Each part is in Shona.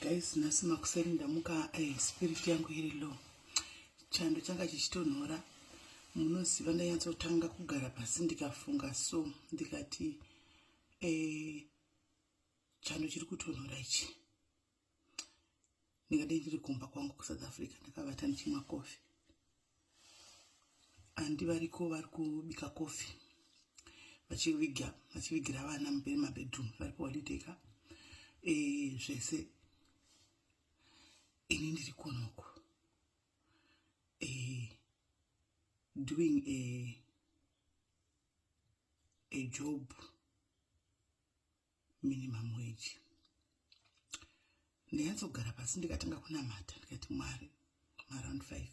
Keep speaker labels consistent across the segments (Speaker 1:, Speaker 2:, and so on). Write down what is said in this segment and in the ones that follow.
Speaker 1: guys nhasi makuseni ndamuka eh, spirit yangu iri low chando changa chichitonhora munoziva ndanyatsotanga kugara pasi ndikafunga so ndikati eh, chando chiri kutonhora ichi ndikati ndiri kumba kwangu kusouth africa ndakavata ndichimwa kofi andi variko vari kubika kofi vachiviga vachivigira vana mabedroom vari kuholideka e, zvese ini ndiri kunoko e, doing a, a job minimum wage ndinyatsogara pasi ndikatanga kunamata ndikati mwari maround five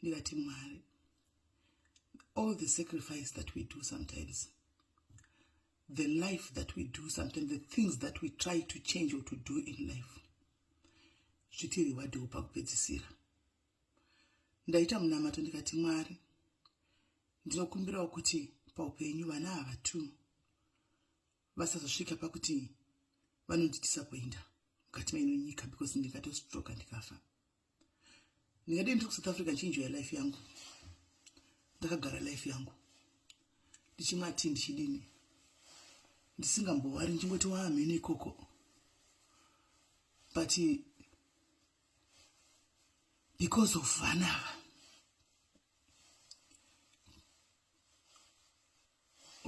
Speaker 1: ndikati mwari all the sacrifice that we do sometimes the life that we do sometimes the things that we try to change or to do in life zvitiriwadewo pakupedzisira ndaita munamato ndikati mwari ndinokumbirawo kuti paupenyu vana ava two vasazosvika pakuti vanonditisa kuenda mukati maino nyika because ndingatostroka ndikafa ndingade ndiri kusouth africa ndichinjoya life yangu ndakagara life yangu ndichimwa ti ndichidini ndisingambowari ndichingoti waamhene ikoko but because of vanava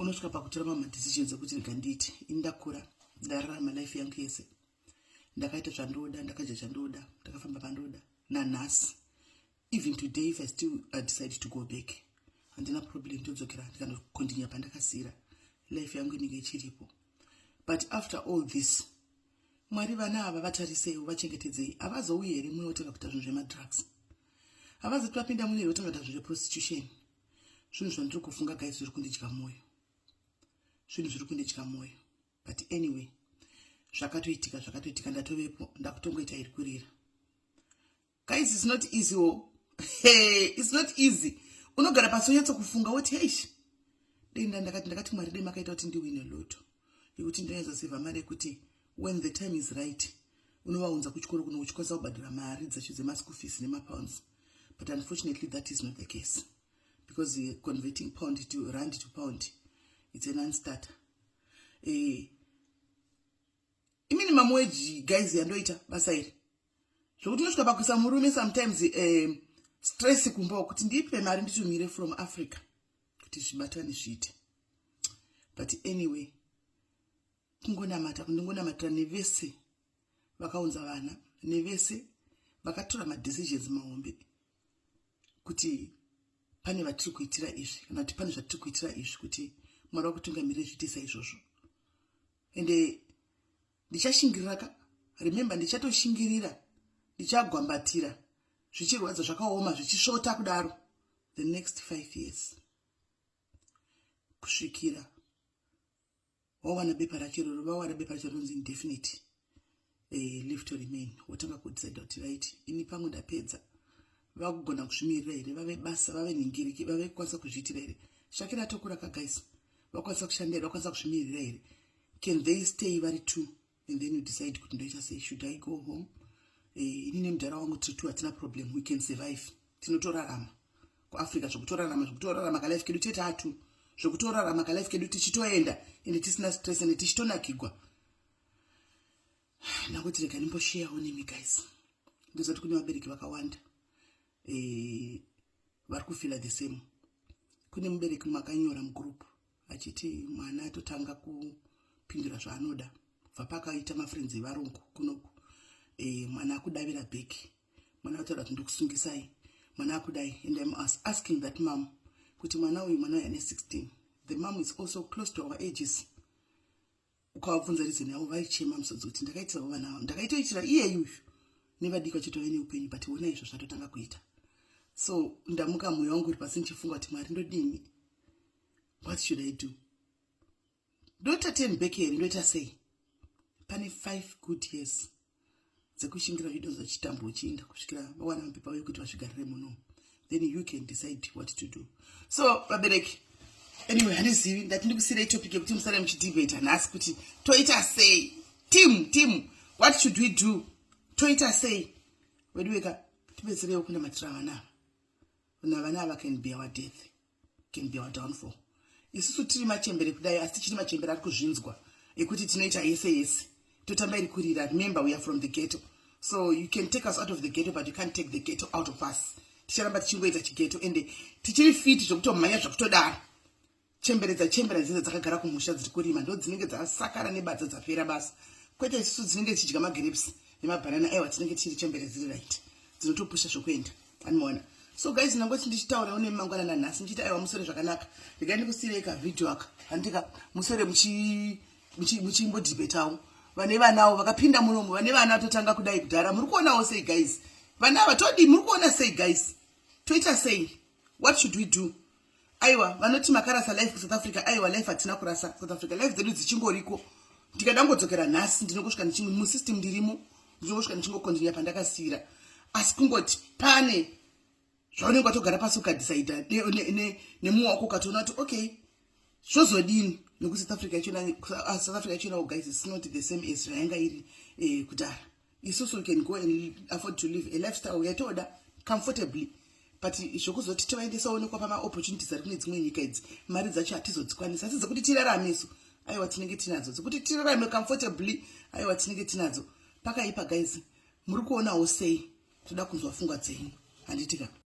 Speaker 1: unosvika pakutora mamwe decisions ekuti rega ndiiti ini ndakura ndararama life yangu yese ndakaita zvandoda ndakadya zvandoda ndakafamba pandoda nanhasi even today if i still i decide to go back handina problem ndodzokera ndikanokondinya pandakasira life yangu inenge ichiripo but after all this mwari vana ava vatariseiwo vachengetedzei havazouyi here muno votanga kuita zvinhu zvemadrugs havazoti vapinda muno here votanga kuita zvinhu zveprostitution zvinhu zvandiri kufunga guys zviri kundidya mwoyo zvinhu zviri kundidya mwoyo but anyway zvakatoitika zvakatoitika ndatovepo ndakutongoita iri kurira guys is not easy o oh. hey, is not easy unogara pasi onyatsa kufunga woti heish dei nda ndakati ndakati mwari dei makaita kuti ndiwine loto yekuti ndinaiza seva mari yekuti when the time is right unovaunza kuchikoro kuno uchikwanisa kubhadhira mari dzacho dzemaschool fees nemapounds but unfortunately that is not the case because uh, converting pound to rand to pound it's a nonstarter uh, eh, iminimum wage guys yandoita basa iri zvokuti unosvika pakuisa murume sometimes uh, stress kumba kuti ndiipe mari nditumire from africa kuti zvibatane zviite but anyway kungonamata kundingonamatira nevese vakaunza vana nevese vakatora madecisions mahombe kuti pane vatiri kuitira izvi kana kuti pane zvatiri kuitira izvi kuti mwari vakutungamirira zviite saizvozvo ende ndichashingirira ka remember ndichatoshingirira ndichagwambatira zvichirwadza zvakaoma zvichisvota kudaro the next five years kusvikira wawana bepa racho roro vawana bepa racho rinonzi indefinite eh, live to remain wotanga kudecide kuti right ini pangu ndapedza vakugona kuzvimirira here vave basa vave nhingiriki vave kukwanisa kuzviitira here shakira atokura kagais vakwanisa kushandira vakwanisa kuzvimirira here can they stay vari two and then you decide kuti ndoita sei should i go home eh, ini nemudhara wangu tiri two hatina problem we can survive tinotorarama kuafrica zvekutorarama zvekutorarama kalife kedu tete atu zvekutorarama kalife kedu tichitoenda ende tisina stress ende tichitonakigwa ndakuti rega ndimbosheyawo nemi guys ndozati kune vabereki vakawanda e, vari kufila the same kune mubereki makanyora mugroup vachiti mwana atotanga kupindura zvaanoda kubva pakaita mafrenzi evarungu kunoku e, mwana akudavira bheki mwana ataura kuti ndikusungisai mwana akudai and im asking that mam kuti mwana uyu mwana uyu ane 16 the mam is also close to our ages ukavabvunza reason yavo vaichema musodzi kuti ndakaitiravo vana vavo ndakaitoitira iye yuyu nevadiki vachitove neupenyu but ona izvo zvatotanga kuita so ndamuka mwoyo wangu uri pasi ndichifunga kuti mwari ndodini what should i do ndoita ten back here ndoita sei pane five good years dzekushingira zvido zvachitambo uchiinda kusvikira vawana mapepa uye kuti vazvigarire muno then you can decide what to do so vabereki anyway handizivi ndati ndikusirei topic yekuti musare muchidebata nhasi kuti toita sei team team what should we do toita sei weduweka tibetsereiwo kunamatira vana vana vana ava can be our death can be our downfall isusu tiri machembere kudai asi tichiri machembere ari kuzvinzwa ekuti tinoita yese yese totamba iri kurira remember we are from the ghetto so you can take us out of the ghetto but you can't take the ghetto out of us ticharamba tichingoita chighetto ende tichiri fiti zvokutomhanya zvakutodaro chembere dzachembera dzidza dzakagara kumusha dziri kurima ndo dzinenge dzasakara nebadza dzapera basa kwete isusu dzinenge dzichidya magrapes nemabhanana aiwa tinenge tichiri chembere dziri right dzinotopusha zvokuenda anoona so guys ndangoti ndichitaura une mangwana nanhasi ndichiti aiwa musore zvakanaka regai ndikusirei kavideo aka handika musore muchimbodibetawo vane vanawo vakapinda muromo vane vana vatotanga kudai kudhara muri kuonawo sei guys vana vatodii muri kuona sei guys toita sei what should we do aiwa vanoti makarasa life kusouth africa aiwa life hatina kurasa south africa life dzedu dzichingoriko ndikada ngodzokera nhasi ndinongosvika ndichingo musystem ndirimo ndinongosvika ndichingokondinia pandakasiyira asi kungoti pane zvaunenge watogara pasi ukadhisaida nemuwa wako ukatoona kuti okay zvozodini nekuti south africa ichona south africa ichona guys is not the same as zvayanga iri eh, kudhara isusu we can go and afford to live a lifestyle yatoda comfortably but zvokuzoti tovaendesa onekwa pamaopportunities ari kune dzimwe nyika idzi mari dzacho hatizodzikwanisa asi dzekuti tirarame isu aiwa tinenge tinadzo dzekuti tirarame comfortably aiwa tinenge tinadzo pakaipa guys muri kuonawo sei toda kunzwa fungwa dzenyu handitika